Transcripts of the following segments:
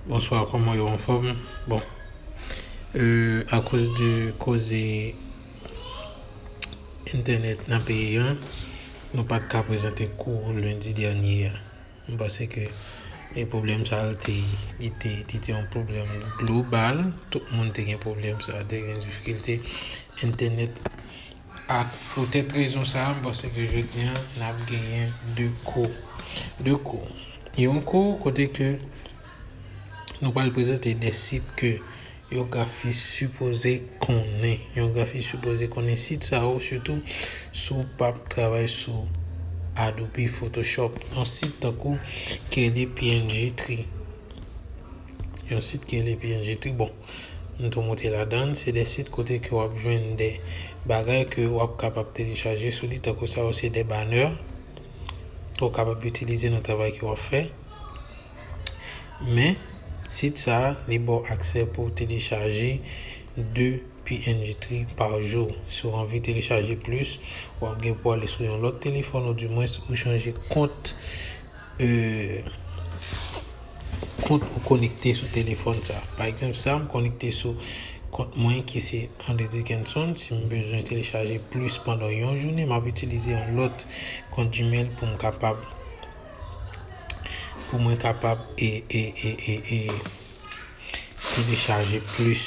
Bonswa koman yo anfom bon euh akoz de koze entènèt nan peyi an nou pat ka prezante kou lendi dènye a m panse ke e pwoblèm sa l te li te li te yon pwoblèm global tout moun te gen pwoblèm sa te gen difikilte entènèt. Ak poutèt rezon sa a, m panse ke jodi an n ap genyen 2 kou. 2 kou. Yon kou kote ke nou pral prezante 2 sit ke yon grafis sipoze konnen. Yon grafis sipoze konnen sit sa yo sitou si w pa p travay sou Adobe Photoshop. Yon sit tankou Kelly png Tree. Yon sit Kelly png Tree, bon. M tou moute ladann, se de sit kote ke wap jwenn de bagay ke wap kapab telechaje sou li tankou sa yo se de banè ke w kapab itilize nan travay ke wap fè men sit sa li baw aksè pou w telechaje de png tri pa jou, si w anvi telechaje plis wap gen pou ale sou yon lòt telefòn ou dimwens ou chanje kont. kont ou konekte sou telefòn sa. Pa egzanp sa, m konekte sou kont mwen ki se Andre Dickenson. Si m bezwen telechaje plis pandan yon jounen, m ap itilize yon lòt kont Gmail pou m kapab pou mwen kapab e telechaje plis.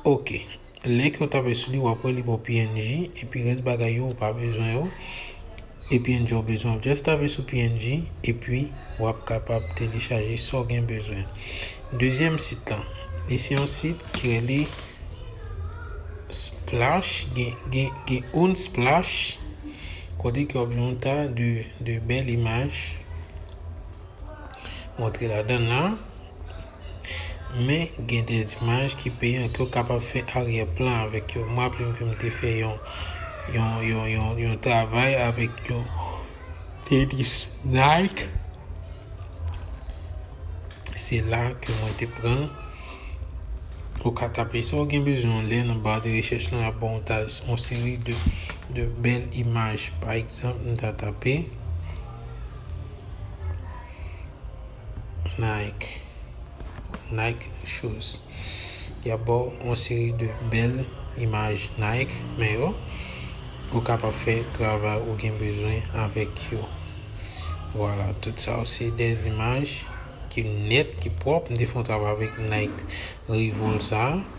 Ok. Link yo tape sou li wap wè li baw png epi rès bagay yo ou pa bezwen yo e png ou bezwen wap just tape sou png epi wap kapab telechaje sa ou gen bezwen. Dezyèm sit lan li se yon sit ki rele splash gen unsplash kote ke wap jwenn yon ta de bèl imaj montre ladan la. Men gen de imaj ki peyan ke w kapab fè aryè plan avèk yo. Mwen raple m ke m te fè yon yon travay avèk yon tenis Nike. Se la ke mwen te pran l. Ou ka tape sa w gen bezwen an lè nan bar de recherche lan y ap ba w yon seri de de bèl imaj. Pa egzanp m ta tape. Nike Nike shoes Y ap ba w yon seri de bèl imaj Nike men yo pou w kapab fè travay ou gen bezwen avèk yo Vwala tout sa yo se de imaj ki nèt, ki pwòp M te fè yon travay avèk Nike Revolt sa a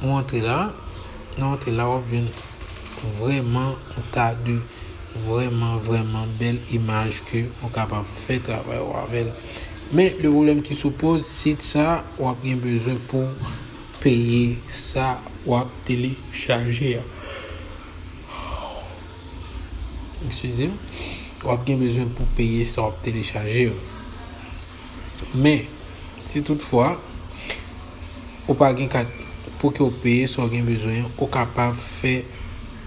Ou antre la, nan antre la wap jwenn vreman ou ta de vreman vreman bel imaj ke ou kapab fè travay ou avèl. Men, le problem ki sou poz sit sa, wap gen bezwen pou peye sa wap tele chaje a. Eksizem, wap gen bezwen pou peye sa wap tele chaje a. Men, si tout fwa, ou pa gen kat pou ke ou peye sa ou gen bezwen, ou kapab fè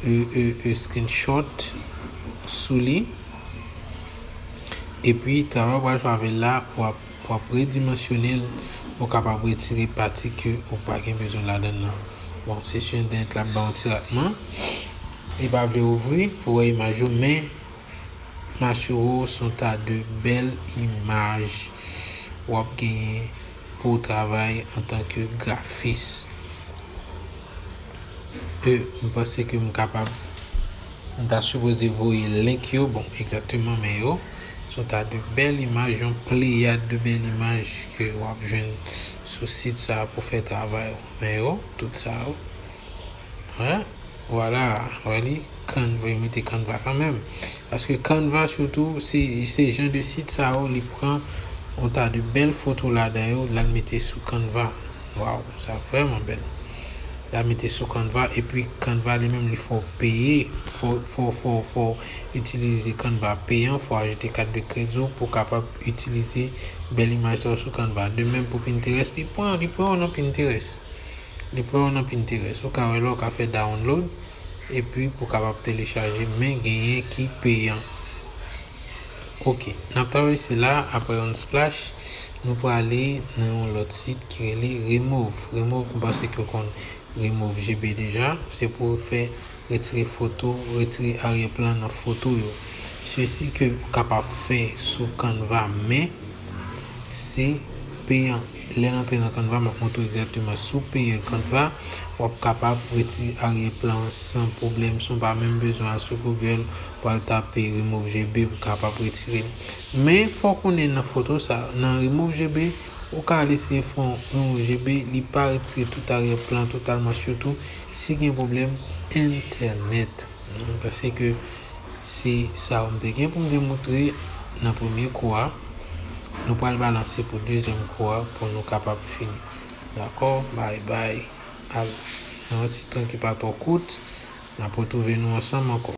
e screenshot sou li. E pi, travay ou pral fè avèl la, ou ap redimensyone l, ou kapab retire pati ke ou pa gen bezwen ladan nan. Bon, se sou entènèt la ap ba ou ti ratman. Li pa vle ouvri pou wè imaj yo, men, Masuro son ta de bèl imaj wap genyen pouw travay antan ke grafis e m panse ke m kapab m ta sipoze voye link yo bon egzakteman men yo son ta de bèl imaj yon pleyad de bèl imaj ke wap jwenn sou sit sa pou fè travay ou men yo tout sa yo. He wala wè li canva yo mete canva kanmenm paske canva sitou se jan de sit sa yo li pran yon ta de bèl foto ladan yo lal mete sou canva waw sa vrèman bèl lal mete sou canva epi canva li menm li fè w peye fò fò fò fò itilize canva peyan fò ajoute kat de kredi w pou kapab itilize bèl imaj sa yo sou canva de menm pou pinterest li pran li pran w nan pinterest. Li pran w nan Pinterest. Ou ka wè lè w ka fè download epi pou kapab telechaje men genyen ki peyan. Ok, n ap travèse la aprè Unsplash nou prale nan yon lòt sit ki rele Remove. Remove m panse ke w konn Remove JB deja. Se pou w fè retire foto, retire aryè plan nan foto yo. Se si ke ou kapab fè sou Canva men se peyan. Lèn antre nan canva map moutrew egzakteman si w peye canva wap kapab reti arrière plan san pwoblèm si w pa menm bezwen al sou google pwal tape remove gb pou kapab retirel men fò w konnen nan foto sa nan remove gb ou ka al eseye fè yon remove gb li pa retire tout arrière plan totalman sitou si gen pwoblèm entènèt. Paske se sa ou m te gen pou m te moutre nan premye kou a. Nou pral balanse pou dezyèm kou a pou nou kapab fini. Dakò? Bay bay. Al nan yon ti tan ki pa twò kout, n ap retwouve nou ansanm ankò.